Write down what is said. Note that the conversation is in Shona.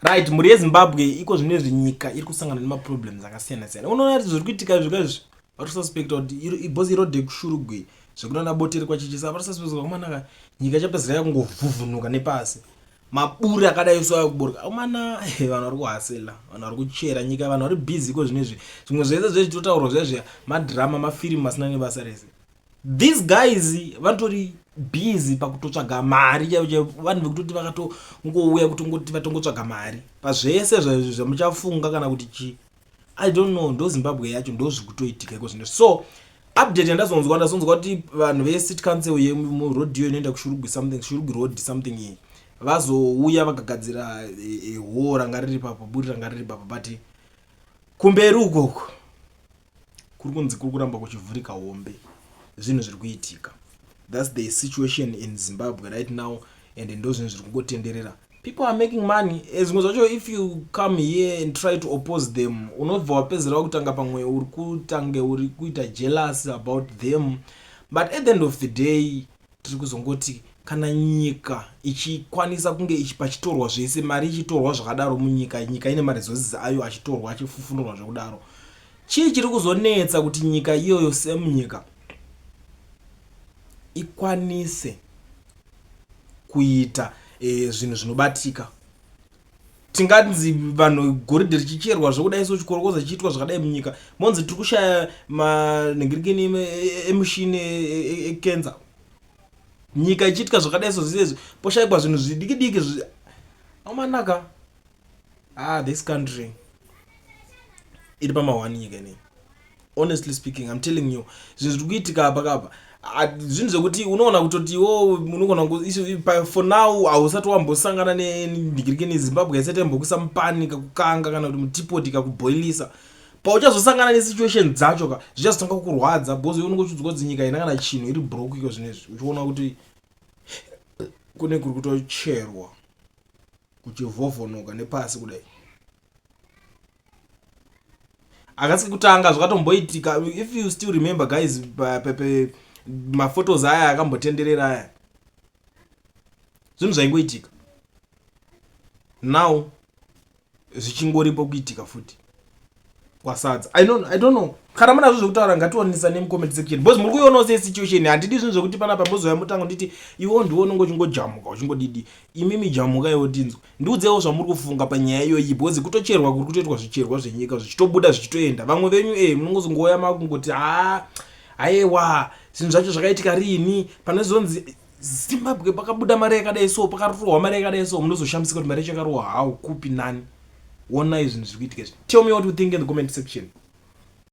right mhuri yezimbabwe iko zvino izvi nyika iri kusangana nemaproblems akasiyana siyana unoona kuti zviri kuitika izvi kaizvi vari kususpecta kuti ibhozi irode kushurugwi zvekunana boteri kwachichisa vari kususpecta kuti amanaka nyika ichapedzera yakungovhuvhunuka nepasi maburi akadai so ayokuboroka umana vanhu vari kuhasela vanhu vari kuchera nyika vanhu vari busy ko zvino izvi zvimwe zvese zvezvitotaurwa zviya zviya madhirama mafirimu asina nebasa rese these guys vatori busy pakutotsvaga mari chaivo chaivo vanhu vekutoti vakatongouya kutongoti vatongotsvaga mari pazvese zvamuchafunga kana kuti chii i don't know ndozimbabwe yacho ndozvikutoitika iko zvino so update yandazonzwa ndazonzwa kuti vanhu vecity council yemurodio inoenda kushurugwi something shurugwi road something iyi vazouya vakagadzira eh, eh, hoo ranga riri papo buri ranga riri papo but kumberi ukoko kuri kunzi kuri kuramba kuchivhurika hombe zvinhu zviri kuitika thats the situation in zimbabwe right now and ndo zvinhu zviri kungotenderera people are making money eh, zvimwe zvacho if you come here and try to oppose them unobva wapedzera wakutanga pamwe uri kutange uri kuita jealous about them but at the end of the day Tiri kuzongoti kana nyika ichikwanisa kunge ichi pachitorwa zvese mari ichitorwa zvakadaro munyika nyika ine maresources ayo achitorwa achifufunurwa zvekudaro chii chiri kuzonetsa kuti nyika iyoyo semunyika ikwanise kuita e, zvinhu zvinobatika tinganzi vanhu goridhe richicherwa zvokudai so chikorokoza chichiitwa zvakadai munyika monzi tiri kushaya manhingirikini em- e- emushini ekenza nyika ichiitwa zvakadai so zizezvi poshaikwa zvinhu zvidiki diki zvi amanaka ah this country iri pamahwani nyika inei honestly speaking i'm telling you zvinhu zviri kuitika apa kapa zvinhu zvekuti unoona kutoti wo oh, unogona for now hausati wambosangana nendigirike nezimbabwe haisati yambokuisa mupani kakukanga kana kuti mutipoti kakuboilisa pauchazosangana nesituation dzacho ka zvichazotanga kurwadza bcause unenge uchiudzwa kuti nyika ina kana chinhu iri brok iko zvino izvi uchiona kuti kune kuri kutocherwa kuchivhovhonoka nepasi kudai akasi kutanga zvakatomboitika if you still remember guys pepe maphotos aya akambotenderera aya zvinhu zvaingoitika now zvichingoripo kuitika futi kwasadza i don't, I don't know kana munazvo zvekutaura ngatiwanisa nemucomment section because muri kuionawo sesituation handidi zvinhu zvekuti panapa mbozouya mutango nditi iwo ndiwo unonge uchingojamuka uchingodidi imimi jamuka iwo tinzwe Ndiudzewo zvamuri kufunga panyaya iyoyi because kutocherwa kuri kutoitwa zvicherwa zvenyika zvichitobuda zvichitoenda vamwe venyu eh munongozongouya makungoti haa ayewa zvinhu zvacho zvakaitika riini pane zvonzi zimbabwe pakabuda mari yakadai so pakarohwa mari yakadai so munozoshamisika kuti mari yacho yakarohwa hau kupi nani wonai zvinhu zviri kuitika izvi tell me what you think in the comment section